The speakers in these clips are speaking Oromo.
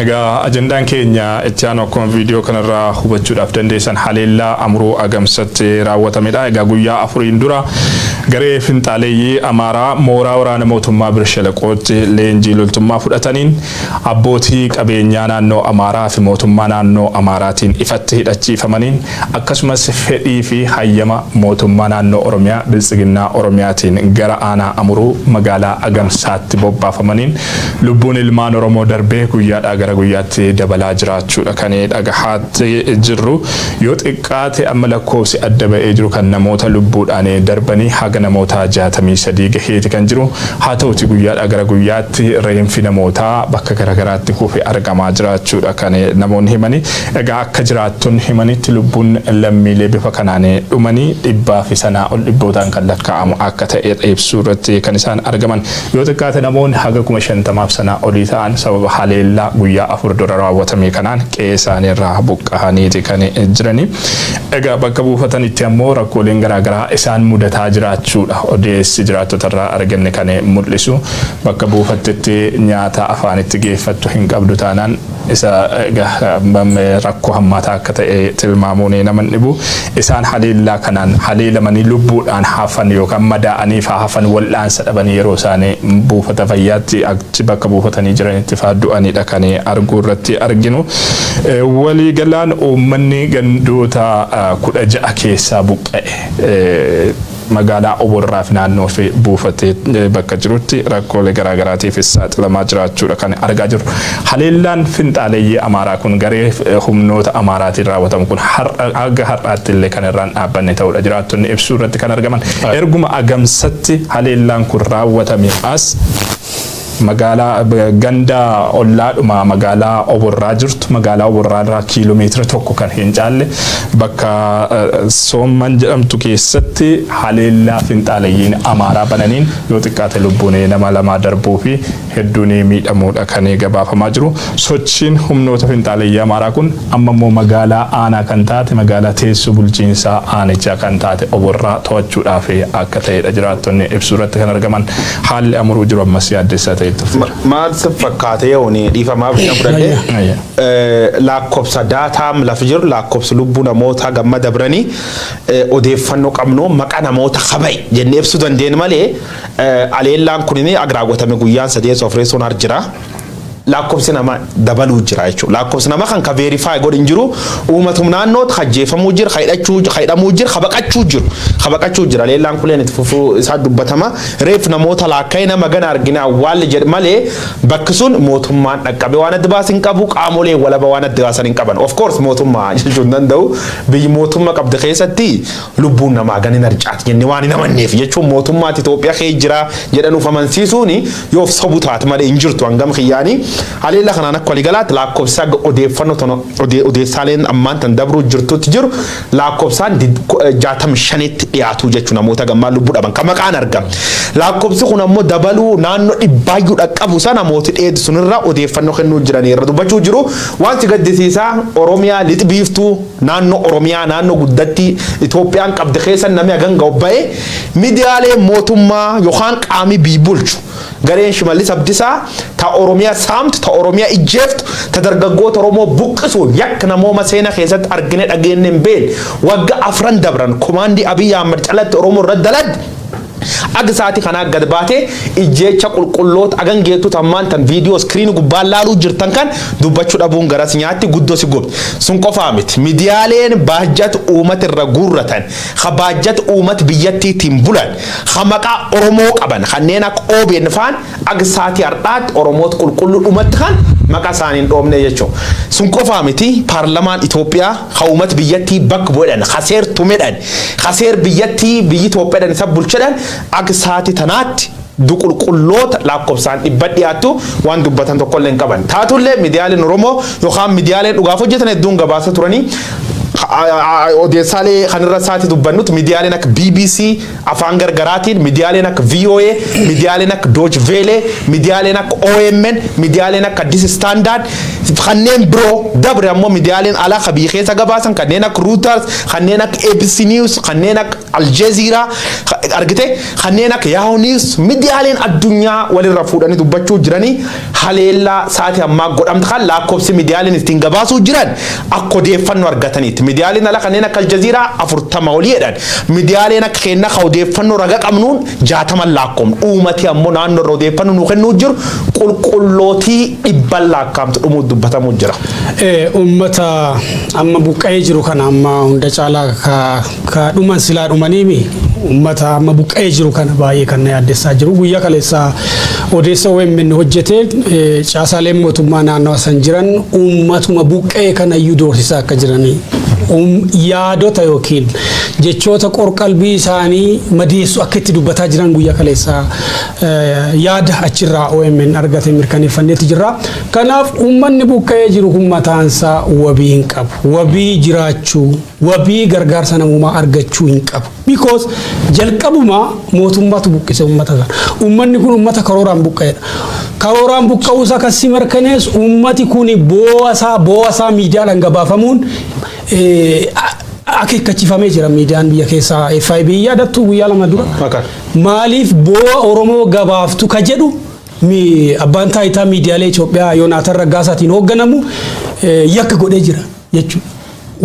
Egaa ajandaan keenya itti aanu akkuma viidiyoo kanarraa hubachuudhaaf dandeessan haleellaa amuruu agamsatti raawwatamedha. Egaa guyyaa afuriin dura garee finxaaleeyyii Amaaraa mooraa waraana mootummaa Birshalaqootti leenjii loltummaa fudhataniin abbootii qabeenyaa naannoo Amaaraa fi mootummaa naannoo Amaaraatiin ifatti hidhachiifamaniin Akkasumas fedhii fi hayyama Mootummaa Naannoo Oromiyaa Biltsiginnaa Oromiyaatiin gara Aanaa Amuruu Magaalaa Agamsaatti bobbaafamaniin lubbuun ilmaan Oromoo darbee guyyaadhaa gara guyyaatti dabalaa jiraachuudha kan dhagahaatti jirru. Yoo xiqqaate amma lakkoofsi adda ba'ee jiru kan namoota lubbuudhaan darbanii haga namoota 63 gaheeti kan jiru. Haa ta'uti guyyaadhaa gara guyyaatti reenfi namootaa bakka garagaraatti kufe argamaa jiraachuudha kan namoonni himani. Egaa akka jiraattonni himanitti lubbuun lammiilee bifa kanaan dhumanii dhibbaafi sanaa ol dhibbootaan kan lakkaa'amu akka ta'e ibsuu irratti kan isaan argaman. Yoo xiqqaate namoonni haga kuma shantamaaf sanaa olii ta'an sababa haleellaa guyyaa afur dura raawwatamee kanaan qe'ee isaanii irraa buqqahaniiti kan jiranii. Egaa bakka buufatanitti ammoo rakkooleen garaa garaa isaan mudataa jiraachuudha odeessi jiraattota irraa arganne kan mul'isu. Bakka buufattetti nyaata afaanitti geeffattu hin qabdu taanaan Isa rakkoo hammaataa akka ta'e tilmaamuun nama hin dhibu. Isaan haleellaa kanaan haleelamanii lubbuudhaan hafan yookaan madaa'aniif haa hafan wal'aansa dhabanii yeroo isaan buufata fayyaatti achi bakka buufatanii jiranitti faa du'anidha kan arguu irratti arginu. Waliigalaan uummanni gandoota 16 keessaa buqqa'e. Magaalaa Oborraafi naannoofi buufatee bakka jirutti rakkoolee garaagaraatiifis saaxilamaa jiraachuudha kan argaa jirru. Haleellaan finxaaleyyii Amaaraa kun garee humnoota Amaaraatiin raawwatamu kun har'a haga har'aattillee kan irraa hin dhaabbanne ta'uudha jiraattonni ibsuu irratti kan argaman. Erguma Agamsatti haleellaan kun raawwatamee as. magaalaa ganda ollaadhuma magaalaa oborraa jirtu magaalaa oborraa irraa kiiloo meetira tokko kan hin caalle bakka soomman jedhamtu keessatti haleellaa finxaalayyiin amaaraa bananiin yoo xiqqaate lubbuun nama lamaa darbuu fi hedduun miidhamuudha kan gabaafamaa jiru sochiin humnoota finxaalayyii amaaraa kun amma immoo magaalaa aanaa kan taate magaalaa teessoo bulchiinsaa aanichaa kan taate oborraa to'achuudhaaf akka ta'edha jiraattonni ibsuu irratti kan argaman. Haalli Amuruu jiru ammas yaaddessaa ta'e itti fufeera. Maal si fakkaate yooni dhiifamaa bichaa fudhadhe Ayya. laakkobsa daataam lafa jiru laakkobsi lubbuu namoota gamma dabranii eh, odeeffannoo qabnu maqa namoota kaba'e jennee ibsuu dandeenyu malee eh, aleellaan kun inni agraawwatame guyyaan sadii soofreessuun har jira. laakkofsi nama dabaluu jira jechuudha. Laakkofsi nama kan ka verify godhu hin jiru uumatum naannoota ka jeefamuu jira, ka hidhachuu, ka hidhamuu jira, ka baqachuu jiru. Ka baqachuu jira. Leellaan kuleen itti fufuu isaa dubbatama. Reef namoota laakka'ee nama gana argine awwaalle jedhe malee bakki sun mootummaan dhaqqabe waan adda baase hin qabu, qaamolee walaba waan adda baasan hin qaban. Of course mootummaa jechuu hin danda'u. Biyyi mootummaa qabdu keessatti Lubbuun namaa hagan hin harcaati jennee waan hin amanneef jechuun mootummaatti Itoophiyaa keessa jira jedhan of amansiisuun yoo of sobu taate malee hin jirtu hangam kiyyaanii haleellaa kanaan akka waliigalaatti laakkofsi haga odeeffannoo tana odee- odeessaaleen ammaan tan dabruu jirtutti jiru laakkofsaan did- ku- eh, 65tti dhiyaatu jechuun namoota gammaa lubbuu dhaban kan maqaan argama. Laakkofsi kun ammoo dabaluu naannoo dhibbaayyuu dhaqqabu sana mootii dheedu sunirra odeeffannoo kennuu jiranii irra dubbachuu jiru. Wanti gaddisiisaa Oromiyaa lixbiiftuu Naannoo Oromiyaa naannoo guddattii Itoophiyaan qabdi keessa nami hagan gahu bahe midiyaaleen mootummaa yokaan qaami biy bulchu gareen Shimallis Abdisaa ta Oromiya saamtu ta Oromiya ijjeeftu ta dargaggoota Oromoo buqqisuun yakk namooma seena keessatti argine dhageenne hin beenne wagga afran dabran komaandii Abiy Ahmad calatti Oromoo irra dalagde Ag saati kanaa gad baatee ijjeecha qulqulloota agan geettu tammaan tan viidiyoo screen gubbaan laaluu jirtan kan dubbachu dhabuun gara si nyaatti guddo si gubdi. Sun qofaa miti midiyaaleen baajjat uumat irra guurratan ha baajjat uumat biyyattiitiin bulan ha maqaa oromoo qaban kanneen akka obn faan Ag saati hardhaatti Oromoot qulqullu dhumatti kan maqa isaani hin dhoomnee jechuu. Sun qofaa miti paarlamaan Itoophiyaa ka uumat biyyattii bakk bu'edhan, ka seer tumedhan, ka seer biyyattii biyyi Itoophiyadhan isa bulchedhan ag saati tanaatti duqulqulloota laakkobsaan dhibbat dhiyaattu waan dubbatan tokkollee hin qaban. Taatullee midiyaaleen Oromoo yokaan midiyaaleen dhugaaf hojjetan hedduun gabaasa turanii odeessaalee kan irra saati dubbannut midiyaaleen akka bbc, Afaan gargaraatiin midiyaaleen akka voa, midiyaaleen akka Dooch Veelee, midiyaaleen akka omn, midiyaaleen akka Addis Standard fi kanneen biroo dabre ammoo midiyaaleen alaa ka biyya keessa gabaasan kanneen akka Reuters, kanneen akka abc News, kanneen akka Aljazeera, argite kanneen akka Yahoo News midiyaaleen addunyaa walirra fuudhanii dubbachuu jiranii. Haleellaa sa'aati ammaa godhamte kan laakkofsi midiyaalen ittiin gabaasuu jiran akka odeeffannoo argataniitti. Midiyaaleen ala kanneen akka Aljaziiraa 40 olii jedhan. Midiyaaleen akka keennaa kan odeeffannoo raga qabnuun 60n laakkoofna. Uumati ammoo naannoo irra odeeffannoo nuu kennuu jiru qulqullootii dhibban laakkaamtu dhumuu dubbatamuu jira. Uummata amma buqqa'ee jiru kana amma hunda caalaa Ka dhuman silaa dhumaniimi ummata amma buqqa'ee jiru kana baay'ee kan na yaaddessaa jiru. Guyyaa kaleessaa odeessa OMN hojjete caasaaleen mootummaa naannawa san jiran uummatuma buqqa'ee kanayyuu doorsisaa akka jiran yaadota yookiin jechoota qorqalbii isaanii madeessu akka itti dubbataa jiran guyyaa kaleessaa yaada achirraa OMN argate mirkaneeffanneetti jirra. Kanaaf uummanni buqqa'ee jiru kun mataansaa wabii hin qabu. Wabii jiraachuu wabii gargaarsa namoomaa argachuu hin qabu. Because jalqabumaa mootummaatu buqqise uummata sana. Uummanni kun uummata karooraan buqqa'edha. Karooraan buqqa'uu isaa kan si mirkanees uummati kun boo'asaa boo'asaa miidiyaadhaan gabaafamuun akeekkachifamee jira miidiyaan biyya keessaa FIB yaadattu guyyaa lama dura. Maqaan. Maaliif boo'a Oromoo gabaaftu ka jedhu mi- abbaan taayitaa miidiyaalee Itoophiyaa Yoonaataan Raggaasaatiin hoogganamu eh, yakka godhee jira. jechuudha.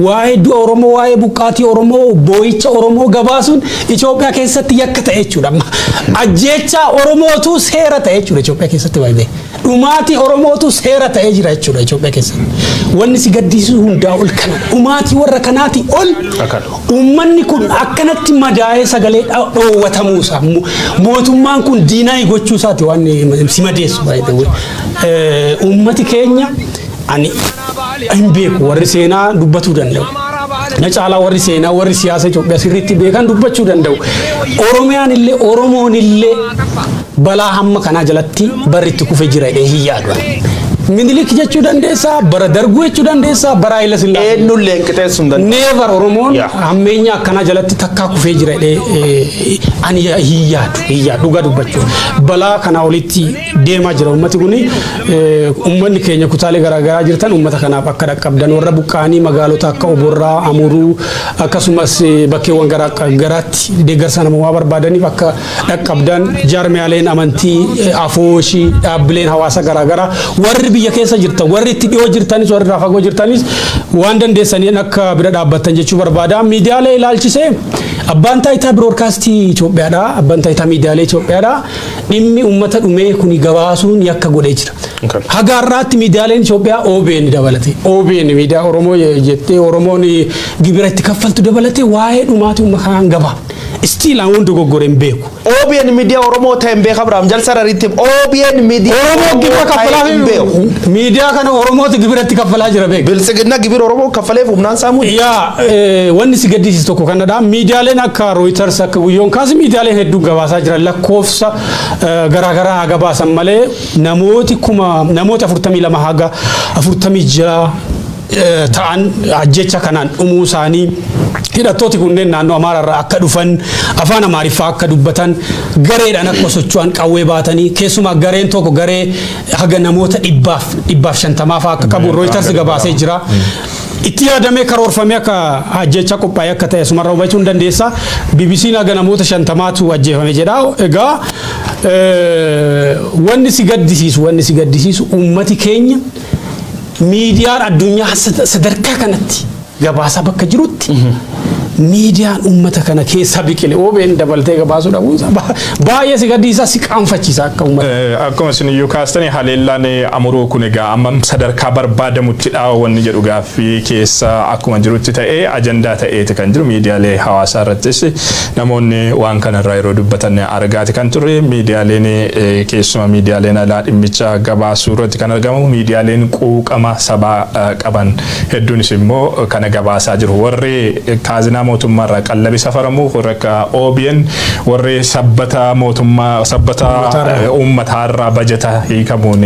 Waa'ee du'a Oromoo, waa'ee buqqaatii Oromoo, boo'icha Oromoo gabaasuun Itoophiyaa keessatti yakka ta'e jechuudha. Ajjeechaa Oromootu seera ta'e jechuudha Itoophiyaa keessatti baay'ee. Dhumaatii Oromootu seera ta'ee jira jechuudha Itoophiyaa keessatti. Wanni si gaddisiisu hundaa ol kana. Dhumaatii warra kanaatii ol uummanni kun akkanatti madaa'ee sagalee dhoowwatamuu isaa mootummaan kun diinaa gochuu isaati waan si madeessu baay'ee. Uummati keenya ani hin beeku warri seenaa dubbatuu danda'u. Na caalaa warri seenaa warri siyaasa Itoophiyaa sirriitti beekan dubbachuu danda'u. Oromiyaan illee Oromoon illee balaa hamma kanaa jalatti barri itti kufe jira jedhee hin yaadu. Minilik jechuu dandeessaa, bara darguu jechuu dandeessaa, bara Haayila Sillaasee. Eenyullee hin qixeessu hin danda'u. Neevar Oromoon Yeah. hammeenya akkanaa jalatti takkaa kufee jira jedhee eh, ani hin yaadu, hin yaadu dhugaa dubbachuu. Balaa kanaa olitti deemaa jira ummati kun ummanni keenya kutaalee garaagaraa jirtan ummata kanaaf akka dhaqqabdan warra buqqaanii magaalota akka oborraa amuruu akkasumas bakkeewwan garaatti deeggarsa namoomaa barbaadaniif akka dhaqqabdan jaarmiyaaleen amantii afooshii dhaabbileen hawaasa garaagaraa warri biyya keessa jirtan warri itti dhiyoo jirtanis warri irraa fagoo jirtanis waan dandeessaniin akka bira dhaabbattan jechuu barbaada miidiyaalee ilaalchisee abbaan taayitaa biroodkaastii Itoophiyaadha abbaan taayitaa miidiyaalee Itoophiyaadha dhimmi uummata dhumee kuni gabaasuun yakka godhee jira. Okay. Haga har'aatti miidiyaaleen Itoophiyaa OBN dabalate. OBN miidiyaa Oromoo je- jettee Oromoon gibira itti kaffaltu dabalate waa'ee dhumaatii uummata kanaa hin gabaafne. Istiil aan dogoggore hin beeku. OBN miidiyaa Oromoo ta'e hin beeku Abiraam Jalsa Rariitti OBN miidiyaa Oromoo gibira ta'e kaffalaa hin beeku. miidiyaa kana Oromoota gibira itti kaffalaa jira beeku. Biltsiginna gibira Oromoo kaffaleef humnaan saamuu Yaa Wanni si gaddisiisu tokko kanadha. Miidiyaaleen akka Rooyitars akka guyyoon kaas miidiyaaleen hedduun gabaasaa jiran lakkoofsa garaagaraa haa gabaasan malee namooti kuma namoota 42 haga 46 ta'an ajjecha kanaan dhumuu isaanii hidhattooti kunneen naannoo Amaaraarraa akka dhufan afaan Amaariffaa akka dubbatan gareedhaan akka socho'an qawwee baatanii keessumaa gareen tokko garee haga namoota dhibbaaf dhibbaaf shantamaafaa akka qabu Rooyitars gabaasee jira. Itti yaadamee karoorfamee akka ajjeechaa qophaa'ee akka ta'e asumarra hubachuu ni dandeessa. BBC'n haga namoota shantamaatu ajjeefame jedha. Egaa wanni si gaddisiisu wanni si gaddisiisu uummati keenya miidiyaan addunyaa sadarkaa kanatti gabaasaa bakka jirutti miidiyaan uummata kana keessa biqile OBN dabaltee gabaasuu dhabuun isaa ba- baay'ee si gaddisiisa si qaanfachiisa akka uummata. Eh, Akkuma isin iyyuu kaastanii haleellaan eh, amuruu kun egaa amma sadarkaa barbaadamutti dha'a wanni jedhu gaaffii keessa akkuma jirutti ta'ee ajandaa ta'eeti kan jiru miidiyaalee hawaasaa irrattis namoonni waan kanarraa yeroo dubbatan argaati kan turre miidiyaaleen eh, keessumaa miidiyaaleen alaa dhimmicha gabaasuu irratti kan argamu miidiyaaleen quuqama sabaa eh, qaban hedduunis immoo kana gabaasaa jiru. Warri kaazinaa mootummaa irraa qallabi safaramu warri akka OBN warri sabbata mootummaa sabbata uummataa irraa bajata hiikamuun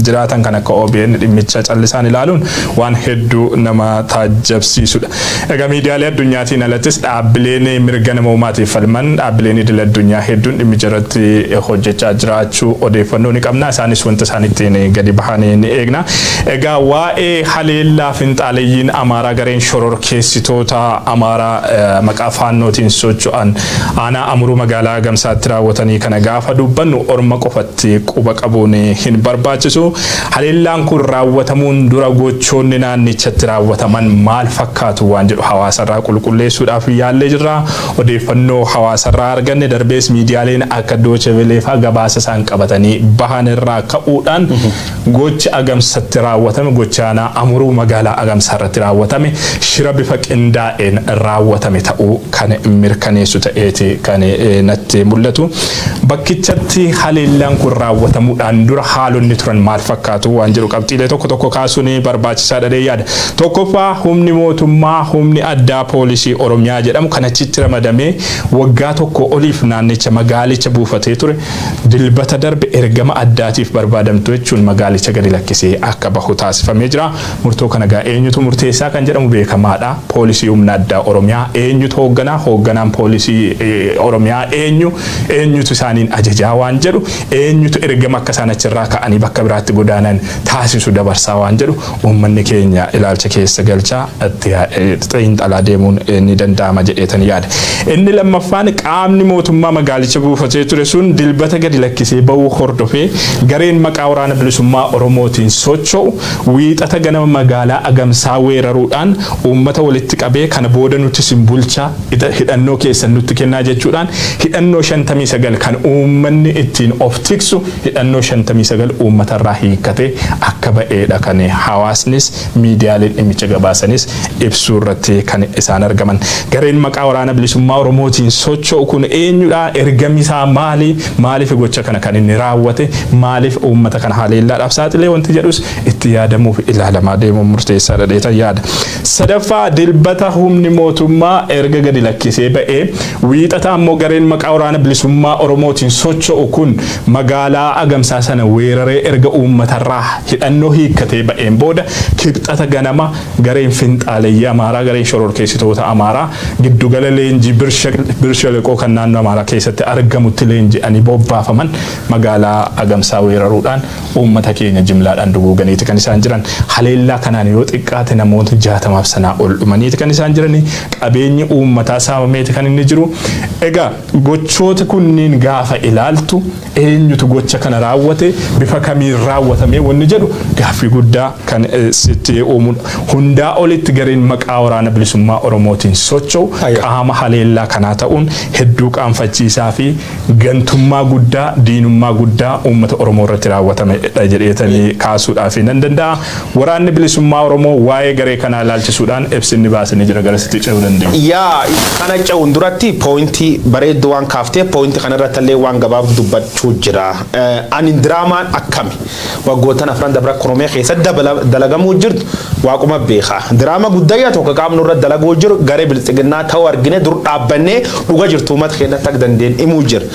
jiraatan kan akka OBN dhimmicha callisaan ilaaluun waan hedduu nama taajjabsiisudha. Egaa miidiyaalee addunyaatiin alattis dhaabbileen mirga namoomaatiif falman dhaabbileen idil addunyaa hedduun dhimmicha irratti hojjechaa jiraachuu odeeffannoo ni qabna. Isaanis wanta isaan ittiin gadi bahanii ni eegna. Egaa waa'ee haleellaa finxaaleyyiin Amaaraa gareen shororkeessitoota Amaaraa maqaa Faannootiin socho'an aanaa Amuruu magaalaa Agamsaatti raawwatanii kana gaafa dubbannu orma qofatti quba qabuun hin barbaachisu. Haleellaan kun raawwatamuun dura gochoonni naannichatti raawwataman maal fakkaatu waan jedhu hawaasarraa qulqulleessuudhaaf yaallee jirra. Odeeffannoo hawaasarraa arganne darbees miidiyaaleen akka Doocheveleefaa gabaasa isaan qabatanii bahan irraa ka'uudhaan Gochi Agamsatti raawwatame gocha aanaa Amuruu magaalaa Agamsaa irratti raawwatame shira bifa qindaa'een raawwatame ta'uu kan mirkaneessu ta'eeti kan natti mul'atu. Bakkichatti haleellaan kun raawwatamuudhaan dura haalonni turan maal fakkaatu waan jedhu qabxiilee tokko tokko kaasuun barbaachisaa dhadhee yaada. Tokkoffaa humni mootummaa humni addaa poolisii Oromiyaa jedhamu kan achitti ramadamee waggaa tokko oliif naannicha magaalicha buufatee ture Dilbata darbe ergama addaatiif barbaadamtu jechuun magaalicha gadi lakkisee akka bahu taasifamee jira. Murtoo kana egaa eenyutu murteessaa kan jedhamu beekamaadha. Poolisii Humna Addaa Oromiyaa eenyutu hoogganaa? Hoogganaan Poolisii Oromiyaa eenyu? Eenyutu isaaniin ajajaa waan jedhu? Eenyutu ergama akka isaan achirraa ka'anii bakka biraatti godaanan taasisu dabarsaa waan jedhu Uummanni keenya ilaalcha keessa galchaa itti xiinxalaa deemuun ni danda'ama jedheetan yaada. Inni lammaffaan qaamni mootummaa magaalicha buufatee ture sun Dilbata gadi lakkisee ba'uu hordofee gareen maqaa Waraana Bilisummaa Oromootiin socho'u Wiixata ganama magaalaa Agamsaa weeraruudhaan uummata walitti qabee kana booda nuti isin bulchaa hidhannoo keessan nutti kennaa jechuudhaan hidhannoo 59 kan uummanni ittiin of tiksu hidhannoo 59 uummatarraa hiikkate akka ba'eedha kan hawaasnis miidiyaaleen dhimmicha gabaasanis ibsuurratti kan isaan argaman. Gareen maqaa Waraana Bilisummaa Oromootiin socho'u kun eenyudha? Ergamisaa maali? Maaliif gocha kana kan inni raawwate? Maaliif uummata kana haleellaadhaaf saaxilee wanti jedhus itti yaadamuufi ilaalamaa deemuun murteessaadha jedheetan yaada. Sadaffaa, Dilbata humni mootummaa erga gadi lakkisee ba'ee, Wiixata ammoo gareen maqaa Waraana Bilisummaa Oromootiin socho'u kun magaalaa Agamsaa sana weeraree erga uummatarraa hidhannoo hiikkatee ba'een booda Kibxata ganama gareen finxaaleyyii Amaaraa, gareen shororkeessitoota Amaaraa giddugala leenjii Bir Sheleqoo kan naannoo Amaaraa keessatti argamutti leenji'anii bobbaafaman magaalaa Agamsaa weeraruudhaan Uummata keenya jimlaadhaan duguuganiiti kan isaan jiran. Haleellaa kanaan yoo xiqqaate namootni 60f sanaa ol dhumaniiti kan isaan jirani. Qabeenyi uummataa saamameeti kan inni jiru. Egaa gochooti kunniin gaafa ilaaltu eenyutu gocha kana raawwate, bifa kamiin raawwatamee wanni jedhu gaaffii guddaa kan sitti uumudha. Hundaa olitti gareen maqaa Waraana Bilisummaa Oromootiin socho'u qaama haleellaa kanaa ta'uun hedduu qaanfachiisaa fi gantummaa guddaa, diinummaa guddaa uummata Oromoo irratti raawwatamedha jedheetanii kaasuudhaaf nan danda'a. Waraanni Bilisummaa Oromoo waa'ee garee kanaa ilaalchisuudhaan ibsi inni baase ni jira garasitti ce'uu dandeenya. Yaa kana ce'uun duratti pooyintii bareedduu waan kaaftee pooyintii kanarratti illee waan gabaabdu dubbachuu jira. Ani diraamaan akkami? waggoottan afran dabra Oromiyaa keessatti dabala- dalagamuu jirtu waaquma beeka. Diraama guddayyaa tokko qaamni irra dalaguu jiru garee biltsiginnaa ta'uu argine dur dhaabbannee dhuga jirtu uummata keenyatti akka dandeenye himuu jira.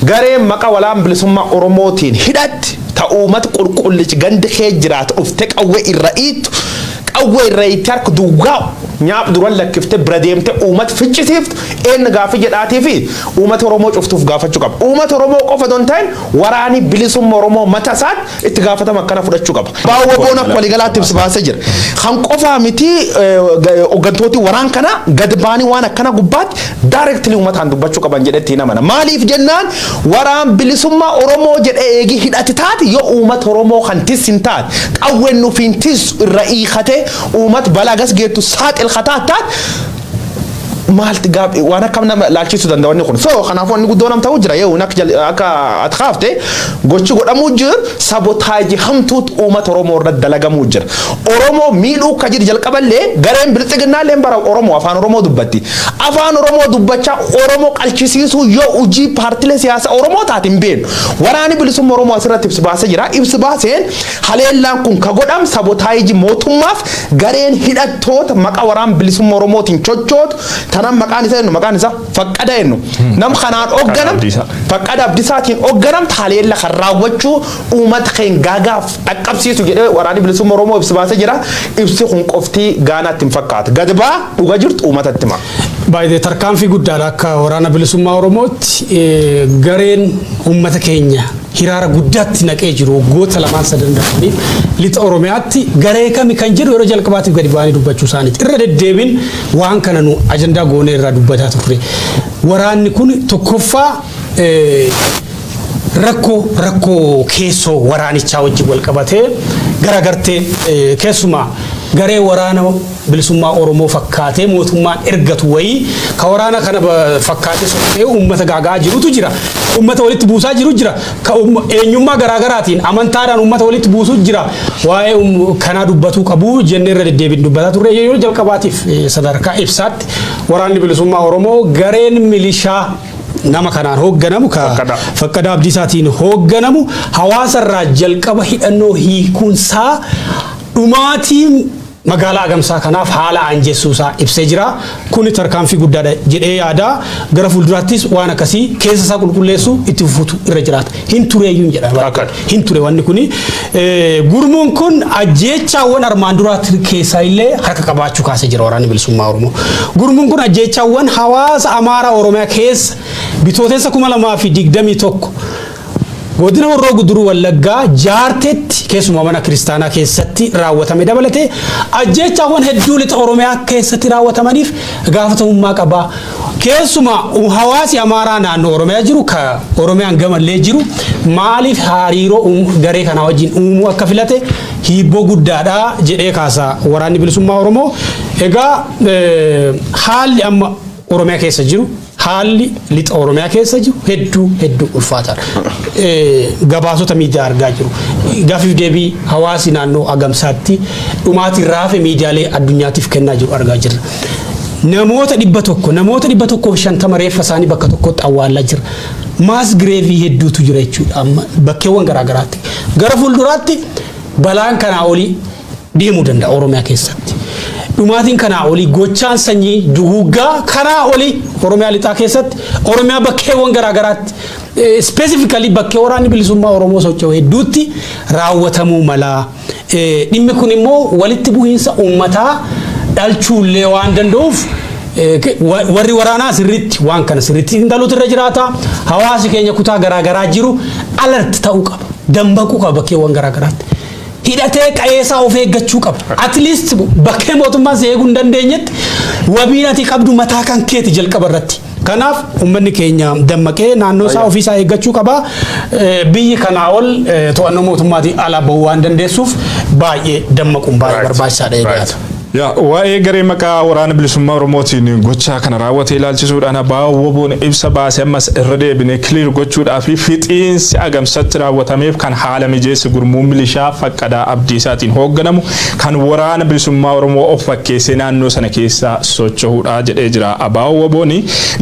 Gareen maqa walaan bilisummaa Oromootiin hidhatti ta uummata qulqullichi ganda kee jiraatu dhufte qawwe irra iittu qawwe irra itti harka duwwaa nyaap duran lakkifte bira deemte uummata ficcisiiftu eenna gaafii jedhaatii fi uummata Oromoo cuftuuf gaafachuu qaba. Uummata Oromoo qofa don ta'in Waraani Bilisumma Oromoo mata isaat itti gaafatama akkana fudhachu qaba. Baa WBOn akka waligalaatti ibsa baase jira. Kan qofaa miti hoggantooti waraan kana gad baanii waan akkana gubbaatti directly umataan dubbachu qaban jedhe itti hin amana. Maaliif jennaan waraan bilisumma Oromoo jedhe eegi hidhati taati yoo uumat Oromoo kan tis hin taat qawwen nufiin tis irra iikate uumat balaa gas geettu saaxil kataat taat maalti gaaf waan akkam nama laalchisuu danda'a wanni kun. So kanaafuu wanni guddoo nam ta'uu jira yoo akka jal- akka ati kaafte gochi godhamuu jiru sabotaajii hamtuutu uummata Oromoo irratti dalagamuu jira. Oromoo miidhuu akka jiru jalqaballee gareen bilxiginnaallee bara Oromoo afaan Oromoo dubbatti. Afaan Oromoo dubbachaa Oromoo qalchisiisuu yoo hojii paartilee siyaasaa Oromoo taate hin beeknu. Waraanni bilisummaa Oromoo asirratti ibsi baasee jira. Ibsi baaseen Haleellaan kun ka godham sabotaayiji mootummaaf gareen hidhattoota maqa waraan bilisumma Oromootiin chochootu tanan maqaan isa ennu maqaan isa faqqada ennu nam kanaan ogganam faqqada abdisaatiin ogganamta haleella kan raawwachuu uumat keen gaagaaf dhaqqabsiisu jedhee waraani bilisumma Oromoo ibsi baase jira ibsi kun qoftii gaanaatti hin fakkaata gad baa dhuga jirtu uumatatti ma. Baay'ee tarkaanfii guddaadha akka waraana bilisummaa Oromootti gareen uummata keenya hiraara guddaatti naqee jiru waggoota lamaan sadan darbaniif lixa Oromiyaatti garee kami kan jedhu yeroo jalqabaatiif gadi ba'anii dubbachuu isaaniiti. Irra deddeebiin waan kana nu ajandaa goonee irraa dubbataa turre. Waraanni kun tokkoffaa rakkoo rakkoo keessoo waraanichaa wajjin wal qabatee garagartee keessumaa garee waraana bilisummaa Oromoo fakkaatee mootummaan ergatu wayii ka waraana kana fakkaatee socho'ee uummata gaaga'aa jirutu jira. Uummata walitti buusaa jiru jira. Ka eenyummaa garaagaraatiin amantaadhaan uummata walitti buusu jira. Waa'ee kanaa dubbatuu qabu jennee irra deddeebiin dubbataa turre yeroo jalqabaatiif sadarkaa ibsaatti waraanni bilisummaa Oromoo gareen milishaa nama kanaan hoogganamu ka fakkada abdiisaatiin hoogganamu hawaasa irraa jalqaba hidhannoo hiikuunsaa dhumaatiin Magaalaa Agamsaa kanaaf haala aanjessuu isaa ibsee jira. Kuni tarkaanfii guddaadha jedhee yaada. Gara fuulduraattis waan akkasii keessa isaa qulqulleessuu itti fufuutu irra jiraata. Hin tureeyyuun jedha. Akka. Hin ture wanni kuni. Eh, Gurmuun kun ajjeechaawwan armaan duraa keessaa illee harka qabaachuu kaasee jira waraanni bilisummaa Oromoo. Gurmuun kun ajjeechaawwan hawaasa Amaaraa Oromiyaa keessa bitootessa 2021 Godina Horroo Guduruu Wallaggaa Jaarteetti keessumaa mana kiristaanaa keessatti raawwatame dabalatee ajjeechaawwan hedduu lixa Oromiyaa keessatti raawwatamaniif gaafatamummaa qaba. Keessumaa hawaasi Amaaraa naannoo Oromiyaa jiru ka Oromiyaan gamallee jiru maaliif hariiroo garee kanaa wajjin uumuu akka filate hiibboo guddaadha jedhee kaasa waraanni bilisummaa Oromoo. Egaa haalli amma Oromiyaa keessa jiru haalli lixa Oromiyaa keessa jiru hedduu hedduu ulfaataadha. Gabaasota miidiyaa argaa jiru. Gaaffiif deebii hawaasi naannoo Agamsaatti dhumaatiin raafe miidiyaalee addunyaatiif kennaa jiru argaa jirra. Namoota dhibba tokko namoota dhibba tokkoof shantama reeffa isaanii bakka tokkotti awwaallaa jira. Maas gireevii hedduutu jira jechuudha amma bakkeewwan garaagaraatti. Gara fuulduraatti balaan kanaa olii deemuu danda'a Oromiyaa keessatti. Dhumaatiin kanaa olii gochaan sanyii duguuggaa kanaa olii Oromiyaa lixaa keessatti Oromiyaa bakkeewwan garaa garaatti ispeesifikalii bakkee waraanni bilisummaa Oromoo socho'u hedduutti raawwatamuu mala. Dhimmi kun immoo walitti bu'iinsa uummataa dhalchuullee waan danda'uuf warri waraanaa sirriitti waan kana sirriitti xiinxaluutu irra jiraata. Hawaasi keenya kutaa garaa garaa jiru alert ta'uu qaba. Dammaquu qaba bakkeewwan garaa garaatti. hidhatee qa'ee isaa of eeggachuu qaba. At least bakkee mootummaan si eeguu hin dandeenyetti wabiin ati qabdu mataa kan keeti jalqaba irratti. Kanaaf uummanni keenya dammaqee naannoo isaa ofii isaa eeggachuu qaba. Eh, Biyyi kanaa ol eh, to'annoo mootummaatiin ala bahuu waan dandeessuuf baay'ee dammaquun baay'ee Right. barbaachisaadha Right. eegaata. Yaa waa'ee garee maqaa Waraana Bilisummaa Oromootiin gochaa kana raawwate ilaalchisuudhaan abaa'oo WBOn ibsa baase ammas irra deebinee clear gochuudhaa fi fixiinsi Agamsatti raawwatameef kan haala mijeesse gurmuu milishaa Faqqadaa Abdiisaatiin hoogganamu kan Waraana Bilisummaa Oromoo of fakkeessee naannoo sana keessa socho'uudha jedhee jira. Abaa'oo WBOn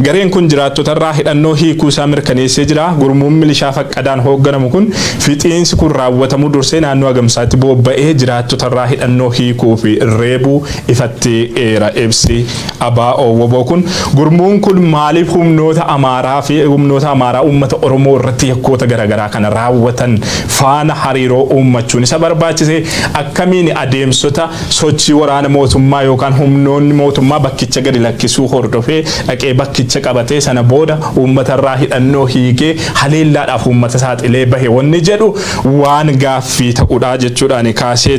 gareen kun jiraattotarraa hidhannoo hiikuu isaa mirkaneessee jira. Gurmuun milishaa Faqqadaan hoogganamu kun Fixiinsi kun raawwatamuu dursee naannoo Agamsaatti boobba'ee jiraattotarraa hidhannoo hiikuu fi reebuu ifatti eera ibsi abo wbo kun. Gurmuun kun maaliif humnoota Amaaraa fi humnoota Amaaraa uummata Oromoo irratti yakkoota garaagaraa kana raawwatan faana hariiroo uummachuun isa barbaachise? Akkamiin adeemsota sochii waraana mootummaa yookaan humnoonni mootummaa bakkicha gadi lakkisuu hordofee dhaqee bakkicha qabatee sana booda uummatarraa hidhannoo hiikee haleellaadhaaf uummata saaxilee bahe wanni jedhu waan gaaffii ta'udha jechuudhaan kaasee